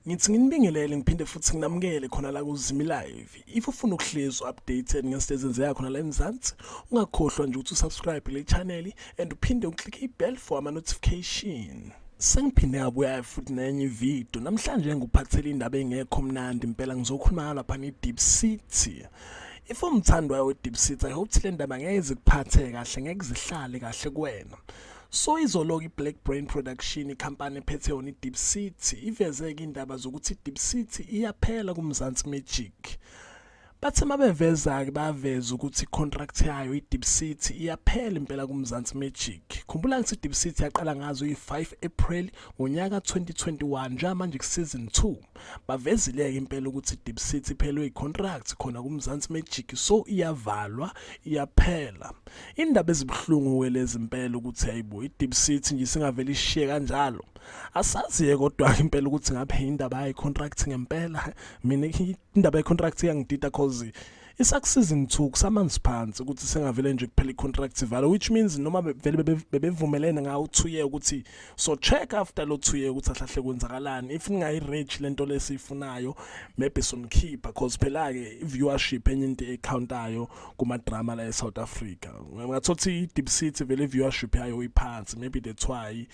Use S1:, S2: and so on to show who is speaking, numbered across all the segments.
S1: ngithi nginibingelele ngiphinde futhi nginamukele khona la kuzimi live if ufuna ukuhlezi updated ngezinto ezenzeka khona la emzansi ungakhohlwa nje ukuthi usubscribe le channel and uphinde uclick ibell for ama notification sengiphinde ngabuya futhi nenye ividiyo namhlanje ngikuphathele indaba engekho mnandi impela ngizokhuluma lapha nge-deep city If umthandwayo we-deep seat I hope le ndaba ngeke zikuphathe kahle ngeke zihlale kahle kuwena so izoloku i-black brain production ikhampani ephethe yona i-deep city ivezeke indaba zokuthi i-deep city iyaphela kumzansi magic bathe mabeveza-ke baveza ukuthi i-contract yayo i-deep city iyaphela impela kumzansi magic khumbula ngithi i-deep city yaqala ngazo i-5 april ngonyaka 2021 njengamanje kusizini 2 bavezile-ke impela ukuthi i-deep city iphelwe i-contract khona kumzansi magic so iyavalwa iyaphela indaba ezibuhlungu-ke lezi mpela ukuthi hayibo i-deep city nje singavele ishiye kanjalo asazi-ke kodwa-ke impela ukuthi ngabe indaba yayi-contract ngempela mina indaba ye-contract iyangidida cause isakusiza ngithuku samanzi phansi ukuthi sengavele nje kuphela icontract ivale which means noma vele bebevumelene ngawo uthuye ukuthi so check after lo thuye ukuthi ahlahle kwenzakalani if ningayi reach lento lesiyifunayo maybe sonikhipha cause phela ke viewership enye into ecountayo kuma drama la eSouth Africa ngathothi Deep City vele viewership yayo iphansi maybe that's why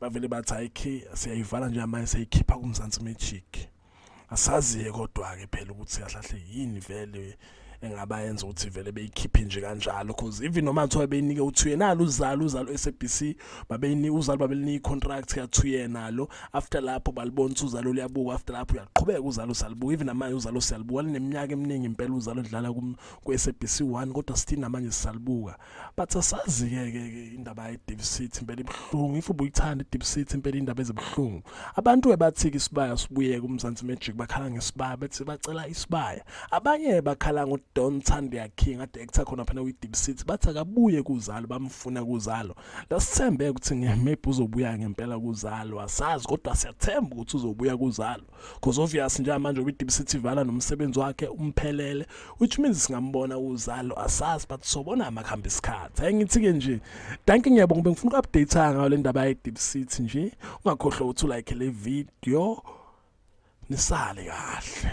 S1: bavele bathi ayikhi siyayivala nje manje seyikhipha kumzansi magic asaziye kodwa-ke phela ukuthi kahlahle yini vele engaba yenza ukuthi vele beyikhiphe nje kanjalo because even noma kuthiwa beyinike uthuye nalo uzalo uzalo u-sabc babeyinika uzalo babelinika i-contract yathuye nalo after lapho balibona ukuthi uzalo luyabuka after lapho uyaqhubeka uzalo salibuka even namanje uzalo siyalibuka lineminyaka eminingi impela uzalo lidlala ku-sabc one kodwa sithini namanje sisalibuka but asazi-ke ke ke indaba ye-deep city impela ibuhlungu if ubuyithanda i-deep city impela indaba ezibuhlungu abantu-ke bathi-ke isibaya sibuyeke umzansi magic bakhala ngesibaya bethi bacela isibaya abanye bakhala ngodon thandia king ade ektha khona phana kwi-deep city bathi akabuye kuzalo bamfuna kuzalo lasithembe ukuthi maybe uzobuya ngempela kuzalo asazi kodwa siyathemba ukuthi uzobuya kuzalo because obvious njengamanje ubi deep city vala nomsebenzi wakhe umphelele which means singambona uzalo asazi but sobona amakhamba isikhathi hayi ngithi ke nje thank you ngiyabonga bengifuna uku-update ngayo le ndaba ye deep city nje ungakhohlwa ukuthi ulike le video nisale kahle